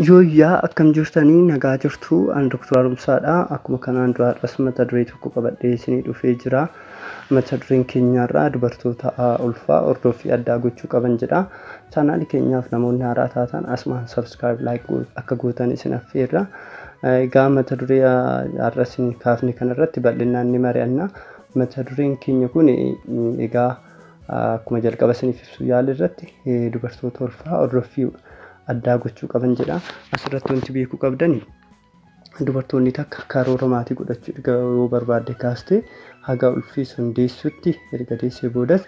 Yooyyaa akkam jirtanii nagaa jirtu an Dr. Arumsaadha akkuma kanaan dura har'as mata duree tokko qabadhee isinii dhufee jira mata dureen keenyaarraa dubartoota ulfaa hordoffii addaa gochuu qaban jedha chaanaalii keenyaaf namoonni haaraa taatan asumaan sabskiraayib laayik akka gootan isin affeerra egaa mata duree har'as kaafne kanarratti bal'inaan ni mari'anna mata dureen keenya kun egaa akkuma jalqaba isiniif ibsuu yaale irratti dubartoota ulfaa hordoffii addaa gochuu qaban jedha. Asirratti wanti beekuu qabdan dubartoonni takka karoora maatii godhachuu erga yoo barbaadde kaastee haga ulfii sun deessutti erga deessee boodas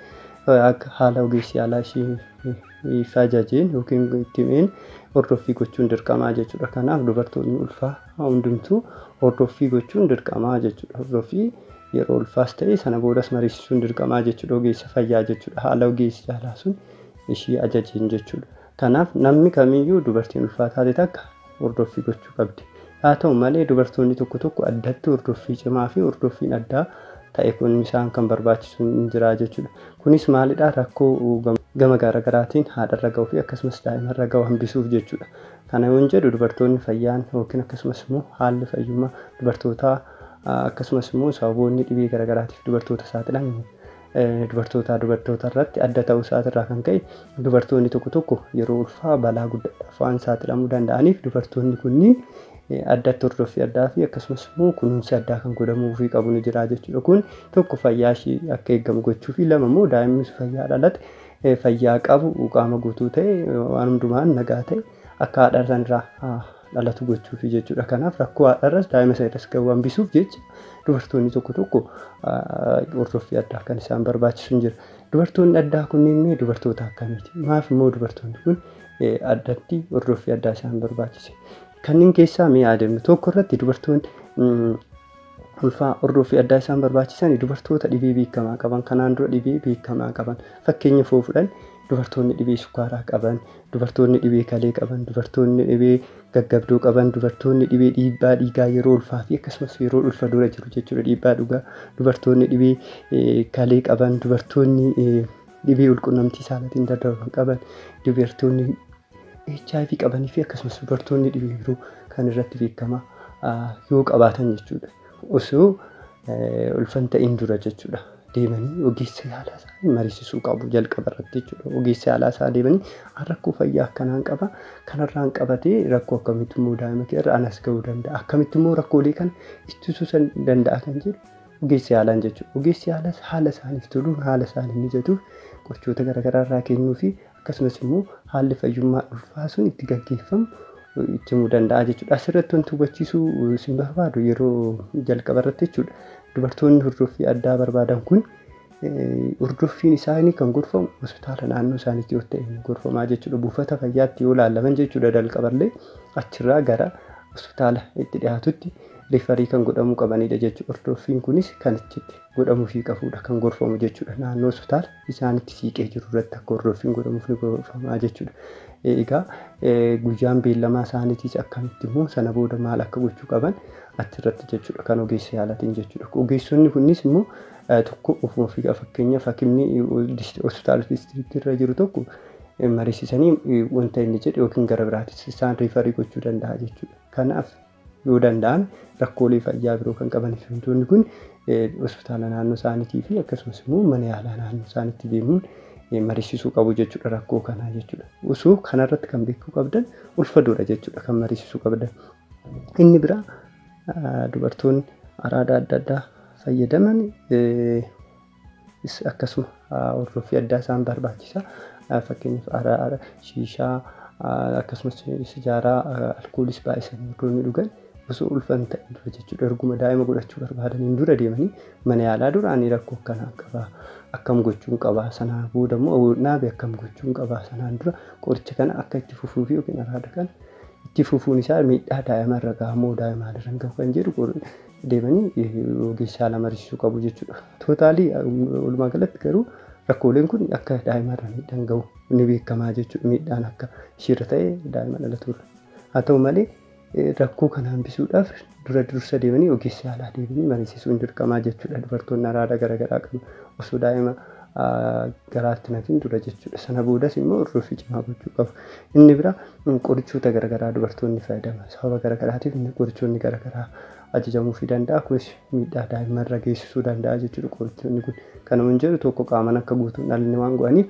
akka haala ogeessi yaalaa ishii fi ajajeen yookiin itti himeen hordoffii gochuun dirqamaa jechuudha. Kanaaf dubartoonni ulfaa hundumtuu hordoffii gochuun dirqamaa jechuudha. Hordoffii Yeroo ulfaas ta'e sana boodas mariisisuun dirqamaa jechuudha. Ogeessa fayyaa jechuudha. Haala ogeessi yaalaa sun ishii ajajeen jechuudha. Kanaaf namni kamiyyuu dubartiin ulfaa taate takka hordoffii gochuu qabdi. Haa ta'u malee dubartoonni tokko tokko addatti hordoffii cimaa fi hordoffiin addaa ta'e kun isaan kan barbaachisu hin jira jechuudha. Kunis maalidha rakkoo gama garagaraatiin haadharra ga'u fi akkasumas daa'imarra ga'u hambisuuf jechuudha. Kana yoon jedhu dubartoonni fayyaan yookiin akkasumas immoo haalli fayyummaa dubartootaa Akkasumas immoo sababoonni dhibee garagaraatiif dubartoota saaxilan dubartootaa dubartoota irratti adda ta'uu isaati irraa kan ka'e dubartoonni tokko tokko yeroo ulfaa balaa guddaadhaaf waan saaxilamuu danda'aniif dubartoonni kunniin addatti hordoffii addaa fi akkasumas immoo kunuunsi addaa kan godhamuufii qabu ni jira jechuudha. Kun tokko fayyaa ishii akka eegamu gochuu fi lama immoo daa'imni fayyaa dhalate fayyaa qabu qaama guutuu ta'e waan hundumaan nagaa ta'e akka haadha sanirraa dhalatu gochuufi jechuudha. Kanaaf rakkoo haadharras daa'ima sana irras gahu hambisuuf jecha dubartoonni tokko tokko hordoffii addaa kan isaan barbaachisu hin jira. Dubartoonni addaa kunniin mee dubartoota akkamiiti? Maaf immoo dubartoonni kun addatti hordoffii addaa isaan barbaachise? Kanneen keessaa mee haa deemnu. Tokko irratti dubartoonni ulfaa hordoffii addaa isaan barbaachisan dubartoota dhibee beekamaa qaban kanaan dura dhibee beekamaa qaban fakkeenya foo fudhan dubartoonni dhibee sukkaaraa qaban dubartoonni dhibee kalee qaban dubartoonni dhibee gaggabdoo qaban dubartoonni dhibee dhiibbaa dhiigaa yeroo ulfaa fi akkasumas yeroo ulfa dura jiru jechuudha dhiibbaa dhugaa dubartoonni dhibee eh, kalee qaban dubartoonni eh, dhibee ulqunnamtii saalatiin daddarban qaban dubartoonni hiv qabanii fi akkasumas dubartoonni dhibee biroo kan irratti beekama yoo qabaatan jechuudha. Osoo ulfa hin ta'in dura jechuudha. Deemanii ogeessa yaalaa isaanii mariisisuu qabu jalqaba irratti jechuudha. Ogeessa yaalaa isaa deemanii an rakkoo fayyaa akkanaan qaba kanarraan qabatee rakkoo akkamitti immoo daa'ima kee irra anas ga'uu danda'a akkamitti immoo rakkoolee kana ittisuu san danda'a kan jedhu ogeessa yaalaan jechuudha. Ogeessi yaalaas haala isaaniif toluun haala isaaniif mijatuuf qorichoota garaagaraa irraa kennuu fi akkasumas immoo haalli fayyummaa ulfaa sun itti gaggeeffamu cimuu danda'a jechuudha. Asirratti wanti hubachiisuu isin barbaadu yeroo jalqaba irratti jechuudha. Dubartoonni hordoffii addaa barbaadan kun hordoffiin isaanii kan gorfamu hospitaala naannoo isaaniitti yoo ta'e gorfamaa jechuudha. Buufata fayyaatti yoo laalaman jechuudha jalqaballee achirraa gara hospitaala itti dhiyaatutti rifarii kan godhamuu qabanidha jechuudha. Hordoffiin kunis kan achitti godhamuufii qabudha kan gorfamu jechuudha naannoo hospitaala. isaanitti siiqee jiru irratti akka hordoffiin godhamuuf ni gorfamaa jechuudha. Egaa guyyaan beellamaa isaaniitiis akkamitti immoo sana booda maal akka gochuu qaban achirratti jechuudha kan ogeessa yaalatiin jechuudha. Ogeessonni kunis immoo tokko ofuma ofii fakkeenyaaf hakimni hospitaala diistiriiktii irra jiru tokko mariisisanii wanta inni jedhe yookiin gara biraatis isaan riifarii gochuu danda'a jechuudha. Kanaaf yoo danda'an rakkoolee fayyaa biroo kan qaban hiriyoonni kun hospitaala naannoo isaaniitii fi akkasumas immoo mana yaalaa naannoo isaaniitti deemuun mariisisuu qabu jechuudha rakkoo kanaa jechuudha. Osoo kanarratti kan beekuu qabdan ulfadoodha jechuudha kan mariisisuu qabdan. Inni biraa dubartoonni araada adda addaa fayyadaman is akkasuma hordoffii addaa isaan barbaachisa. Fakkeenyaaf araara, shiishaa, akkasumas sijaaraa, alkoolis baay'isanii yeroo inni dhugan osoo ulfa hin ta'in dura jechuudha erguma daa'ima godhachuu barbaadaniin dura deemanii mana yaalaa dura ani rakkoo akkanaan qabaa akkam gochuun qabaa sanaan booda immoo naabe akkam gochuun qabaa sanaan dura qoricha kana akka itti fufuu fi yookiin araada kana itti fufuun isaa miidhaa daa'ima irra gahamoo daa'ima irra gahu kan jedhu deemanii ogeessaa lama mariisisuu qabu jechuudha. Tootaalii walumaa galatti garuu rakkooleen kun akka daa'imarra miidhaan gahu ni beekamaa jechuudha. Miidhaan akka ishiirra ta'e daa'ima dhalatuurra. Haa ta'u malee rakkoo kana hambisuudhaaf dura dursa deemanii ogeessa yaalaa deemanii mariisisuun dirqamaa jechuudha. Dubartoonni araada garaagaraa qabu osoo daa'ima garaatti nafin dura jechuudha. Sana boodas immoo hordoffii cimaa gochuu qabu. Inni biraa Qorichoota garagaraa dubartoonni fayyadaman sababa garagaraatiif qorichoonni garagaraa ajajamuufii danda'a. Kunis miidhaa daa'imman irra geessisuu danda'a jechuudha qorichoonni kun. Kana yoon jedhu tokko qaaman akka guutu hin dhalanne waan godhaniif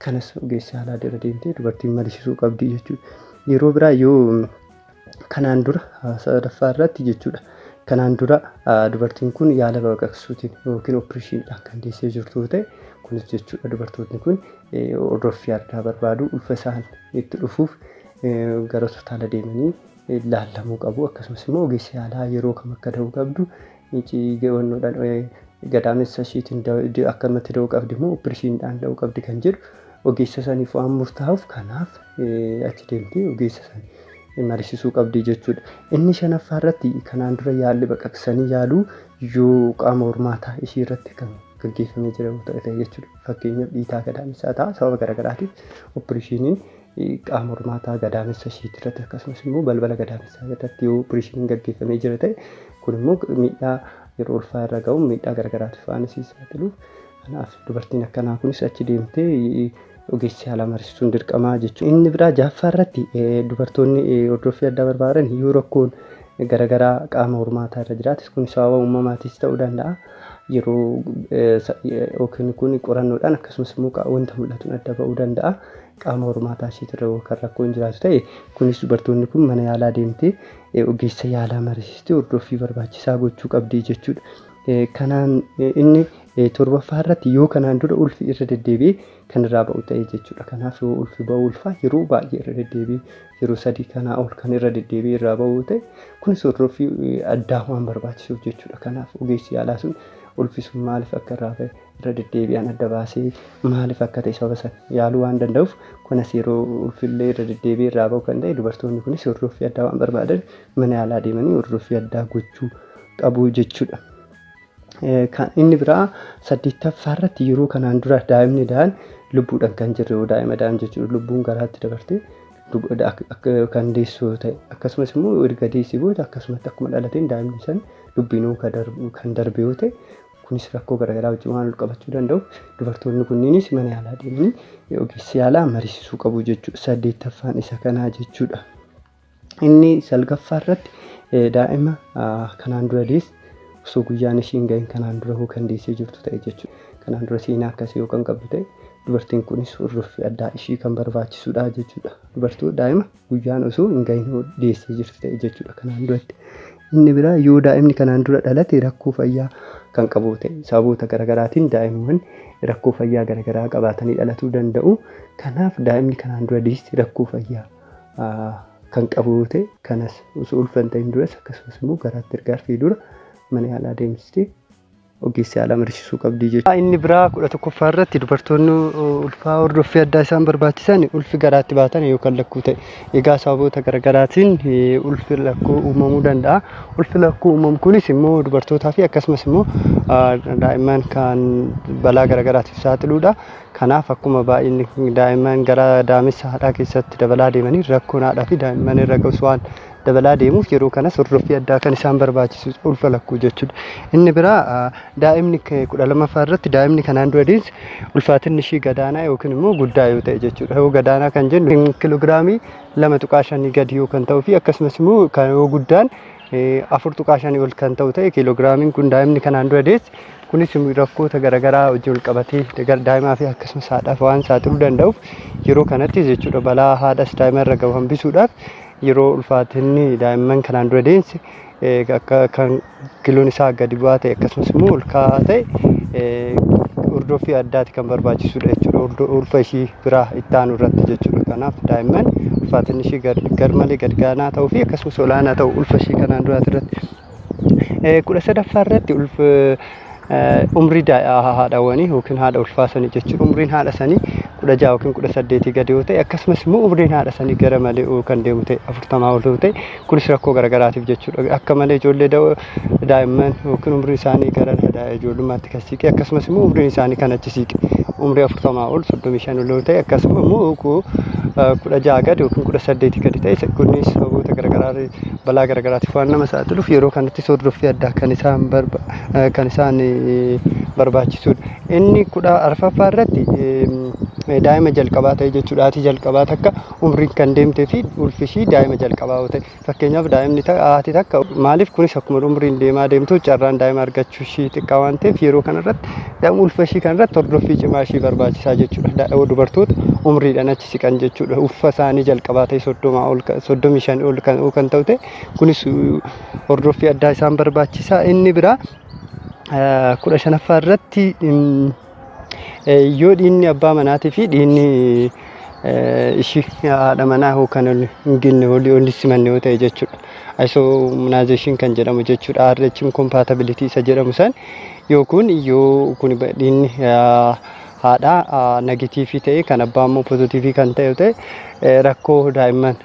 kanas ogeessi yaalaa bira deemtee dubartiin marisisuu qabdi jechuudha. Yeroo biraa yoo kanaan dura sadaffaa irratti jechuudha. Kanaan dura dubartiin kun yaala baqaqsuutiin yookiin oppireeshiniidhaan kan deessee jirtu ta'e kunis jechuudha dubartootni kun hordoffii addaa barbaadu ulfa isaan itti dhufuuf gara hospitaala deemanii laallamuu qabu akkasumas immoo ogeessi yaalaa yeroo kam akka da'uu qabdu gawannoodhaan gadaamessa ishiitiin akkamatti da'uu qabdi immoo opirishiinidhaan da'uu qabdi kan jedhu ogeessa saniif waan murtaa'uuf kanaaf achi deemtee ogeessa san marisisuu qabdi jechuudha. Inni shanaffaa irratti kanaan dura yaalli baqaqsanii yaaluu yoo qaama hormaataa ishii irratti kan gaggeeffamee jira ta'e jechuudha. Fakkeenyaaf dhiitaa gadaamessaa ta'a. Sababa garaagaraatiin oppireeshiniin qaama hormaataa gadaamessa isheetii irratti akkasumas immoo balbala gadaamessaa irratti yoo oppireeshiniin gaggeeffamee jira ta'e kun immoo miidhaa yeroo ulfaa irra ga'u miidhaa garaagaraatiif waan isii saaxiluuf kanaaf dubartiin akkanaa kunis achi deemtee ogeessi haala marisuun dirqamaa jechuudha. Inni biraa jaaffaa irratti dubartoonni hordoffii addaa barbaadan yoo rakkoon garaagaraa qaama hormaataa irra jiraatis kun sababa uumamaatiis ta'uu danda'a. yeroo yookiin kun qorannoodhaan akkasumas immoo wanta mul'atuun adda ba'uu danda'a. Qaama hormaataa isheetirra yoo kan rakkoon jiraatu ta'e kunis dubartoonni kun mana yaalaa deemtee ogeessa yaalaa mariisistee hordoffii barbaachisaa gochuu qabdi jechuudha. Kanaan inni torbaffaa irratti yoo kanaan dura ulfi irra deddeebi'ee kan irraa ba'u ta'e jechuudha. Kanaaf yoo ulfi ba'u ulfaa yeroo baay'ee irra deddeebi'ee yeroo sadii kanaa ol kan irra deddeebi'ee irraa ba'u yoo ta'e kunis hordoffii eh, addaa waan barbaachisuuf jechuudha. Kanaaf ogeessi yaalaa sun ulfi sun maaliif akka irraa ba'e irra deddeebi'aan adda baasee maaliif akka ta'e sababa sana yaaluu waan danda'uuf kunis yeroo ulfillee irra deddeebi'ee irraa ba'u kan ta'e dubartoonni kunis hordoffii addaa waan barbaadan mana yaalaa deemanii hordoffii addaa gochuu qabu jechuudha. Kan inni biraa saddeettaffaa irratti yeroo kanaan dura daa'imni da'an lubbuudhaan kan jirre yoo daa'ima da'an jechuudha lubbuun garaatti dabarte kan deessu yoo ta'e akkasumas immoo erga deessee booda akkasumatti akkuma dhalateen daa'imni san lubbiinuu kan darbe yoo ta'e kunis rakkoo garaagaraa wajjin waan qabachuu danda'u dubartoonni kunniinis mana yaalaa deemanii ogeessi yaalaa mariisisuu qabu jechuudha saddeettaffaan isa kanaa jechuudha. Inni salgaffaa irratti daa'ima kanaan dura deesse osoo guyyaan ishiin ga'in kanaan dura hoo kan deessee jirtu ta'e jechuudha. Kanaan dura seenaa akkasii yoo kan qabdu ta'e dubartiin kunis hordoffii addaa ishii kan barbaachisudha jechuudha. Dubartii daa'ima guyyaan osoo hin ga'in hoo deessee jirtu ta'e jechuudha kanaan duratti. Inni biraa yoo daa'imni kanaan dura dhalate rakkoo fayyaa kan qabu ta'e sababoota garaagaraatiin daa'imman rakkoo fayyaa garaagaraa qabaatanii dhalatuu danda'u. Kanaaf daa'imni kanaan dura deesse rakkoo fayyaa kan qabu yoo ta'e kanas osoo ulfa hin ta'in duras akkasumas immoo garaatti erga arfee dura mana yaalaa deemsistee ogeessi yaalaa mariisisuu qabdi jechuudha. Inni biraa kudha tokkoffaa irratti dubartoonni ulfaa hordoffii addaa isaan barbaachisan ulfi garaatti baatan yookaan lakkuu ta'e. Egaa sababoota garaagaraatiin ulfi lakkuu uumamuu danda'a. Ulfi lakkuu uumamu kunis immoo dubartootaa fi akkasumas immoo daa'imman kan balaa garaagaraatiif saaxiluudha. Kanaaf akkuma baay'inni daa'imman gara daamessa haadhaa keessatti dabalaa deemaniin rakkoon haadhaa fi daa'imman irra ga'us waan dabalaa deemuuf yeroo kanas hordoffii addaa kan isaan barbaachisu ulfa lakkuu jechuudha. Inni biraa daa'imni kudha lamaffaa irratti daa'imni kanaan dura deesse ulfaatinni ishii gadaanaa yookiin immoo guddaa yoo ta'e jechuudha. Yoo gadaanaa kan jennu kiloogiraamii lama tuqaa shanii gadi yoo kan ta'uu fi akkasumas immoo kan yoo guddaan afur tuqaa shanii ol kan ta'u ta'e kiiloogiraamiin kun daa'imni kanaan dura deesse kunis rakkoota garaagaraa wajjin wal qabatee daa'imaa fi akkasumas haadhaaf waan saaxiluu danda'uuf yeroo kanattis jechuudha balaa haadhas daa'ima irra gahu hambisuudhaaf yeroo ulfaatinni daa'imman kanaan dura deesse akka kan kiloon isaa gadi bu'aa ta'e akkasumas immoo ol ka'aa ta'e hordoffii addaati kan barbaachisudha jechuudha ulfa ishii biraa itti aanu irratti jechuudha. Kanaaf daa'imman ulfaatinni ishii garmalee gad gaanaa ta'uu fi akkasumas olaanaa ta'u ulfa ishii kanaan duraati irratti. Kudha sadaffaa irratti umrii haadhawwanii yookiin haadha ulfaa sanii jechuudha. Umriin haadha sanii kudha jaha yookiin kudha saddeetii gadi yoo ta'e akkasumas immoo umriin haadha sanii gara malee kan deemu ta'e afurtamaa ol yoo ta'e Kunis rakkoo garagaraatiif jechuudha. Akka malee ijoollee da'oo daa'imman yookiin umriin isaanii gara daa'e ijoollummaatti kan siiqe akkasumas immoo umriin isaanii kan achi siiqe umrii afurtamaa ol soddomii shan ol ta'e akkasuma immoo kudha ja'a gadi yookiin kudha saddeetii gadi ta'e kunis sababoota garagaraa balaa garagaraatiif waan nama saaxiluuf yeroo kanatti hordoffii addaa kan isaan kan isaan barbaachisudha. Inni kudha arfaffaa irratti daa'ima jalqabaa ta'e jechuudha. Haati jalqabaa takka umriin kan deemtee fi ulfi ishii daa'ima jalqabaa yoo ta'e fakkeenyaaf daa'imni ta- haati takka maaliif kunis akkuma umriin deemaa deemtu carraan daa'ima argachuu ishii xiqqaa waan ta'eef yeroo kanarratti daa'ima ulfa ishii kanarratti hordoffii cimaa ishii barbaachisaa jechuudha Da- dubartoota umriidhaan achi siqan jechuudha ulfa isaanii jalqabaa ta'e soddomaa ol ka- soddomii shan ol kan kan ta'u ta'e kunis uh, hordoffii addaa isaan barbaachisaa inni biraa eh, kudha shanaffaa irratti mm, Yoo dhiinni abbaa manaatii fi dhiinni ishii haadha manaa hoo kan ol hin genne olii ol simanne yoo ta'e jechuudha. Isomnaazeeshin kan jedhamu jechuudha. RH incompatibility isa jedhamu san yoo kun yoo kun dhiinni haadha negatiivii ta'e kan abbaa immoo pozitiivii kan ta'e yoo ta'e rakkoo daa'imman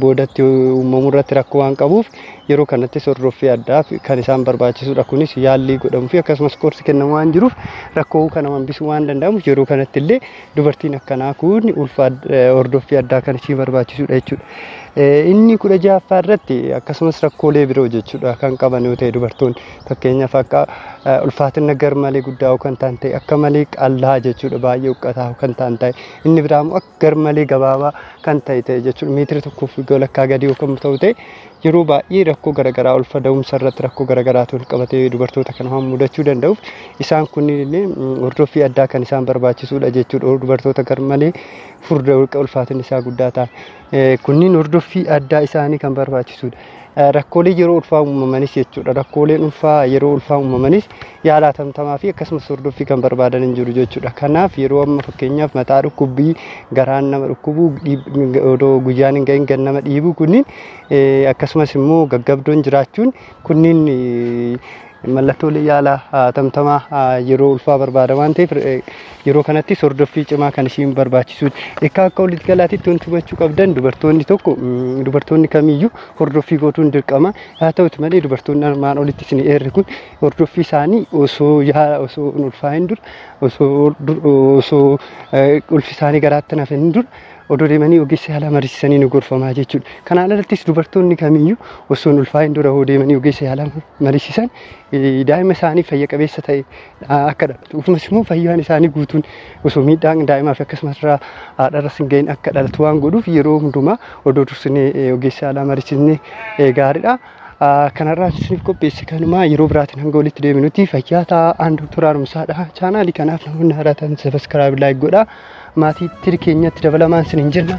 boodatti uumamu irratti rakkoo waan qabuuf yeroo kanattis hordoffii addaa kan isaan barbaachisudha. Kunis yaallii godhamu fi akkasumas qorsi kennamu waan jiruuf rakkoo kana hambisuu waan danda'amuuf yeroo kanatti illee dubartiin akkanaa kun ulfa hordoffii addaa kan ishii barbaachisudha jechuudha. Inni kudha ja'affaa irratti akkasumas rakkoolee biroo jechuudha kan qaban yoo ta'e dubartoonni fakkeenyaaf akka ulfaatina gar malee guddaa kan ta'an ta'e akka malee qal'aa jechuudha baay'ee huqqataa kan ta'an ta'e inni biraa immoo garmalee gabaabaa kan ta'e ta'e jechuudha. Meetira tokkoo fi walakkaa gadi yoo kan ta'u ta'e yeroo baay'ee rakkoo garaagaraa ulfa da'umsa irratti rakkoo garaagaraatu wal qabatee dubartoota kana waan mudachuu danda'uuf isaan kunniin illee hordoffii addaa kan isaan barbaachisuudha jechuudha. Dubartoota garmalee furda ulfaatinni isaa guddaa ta'an kunniin hordoffii addaa isaanii kan barbaachisuudha. Rakkoolee yeroo ulfaa uumamanis jechuudha. Rakkooleen ulfaa yeroo ulfaa uumamanis yaala atamtamaa fi akkasumas hordoffii kan barbaadan hin jiru jechuudha. Kanaaf yeroo amma fakkeenyaaf mataa dhukkubbii garaan nama dhukkubuu dhiib- odoo guyyaan hin gahin gan nama dhiibuu kunniin eh, akkasumas immoo gaggabdoon jiraachuun kunniin eh, Mallattoolee yaala tamtamaa yeroo ulfaa barbaada waan ta'eef yeroo kanattis hordoffii cimaa kan ishiin barbaachisuudha. Egaa akka walitti galaatitti wanti hubachuu qabdan dubartoonni tokko dubartoonni kamiyyuu hordoffii godhuun dirqama. Haa ta'uti malee dubartoonni armaan olitti isin eerre kun hordoffii isaanii osoo yaala osoo hin ulfaa'in dura osoo osoo ulfi isaanii garaatti nafin dura odoo deemanii ogeessa yaalaa mariisisanii ni gorfamaa jechuudha. Kanaan alattis dubartoonni kamiyyuu osoo hin ulfaa'in dura hoo deemanii ogeessa yaalaa mariisisan daa'ima isaanii fayya qabeessa ta'e akka dhalatu akkasumas immoo fayyaan isaanii guutuun osoo miidhaan daa'imaa fi akkasumas irraa haadharras hin gahin akka dhalatu waan godhuuf yeroo hundumaa odoo dursinee ogeessa yaalaa mariisisnee gaariidha. Kanarraas isiniif qopheesse kanumaa yeroo biraatiin hanga walitti deebinutti fayyaa ta'aa aan Dooktor Haaromsaadha. Chaanaalii kanaaf namoonni haaraa ta'an sabiskiraayib laayik godhaa. Maatii tiri keenyatti dabalamaan isiniin jenna.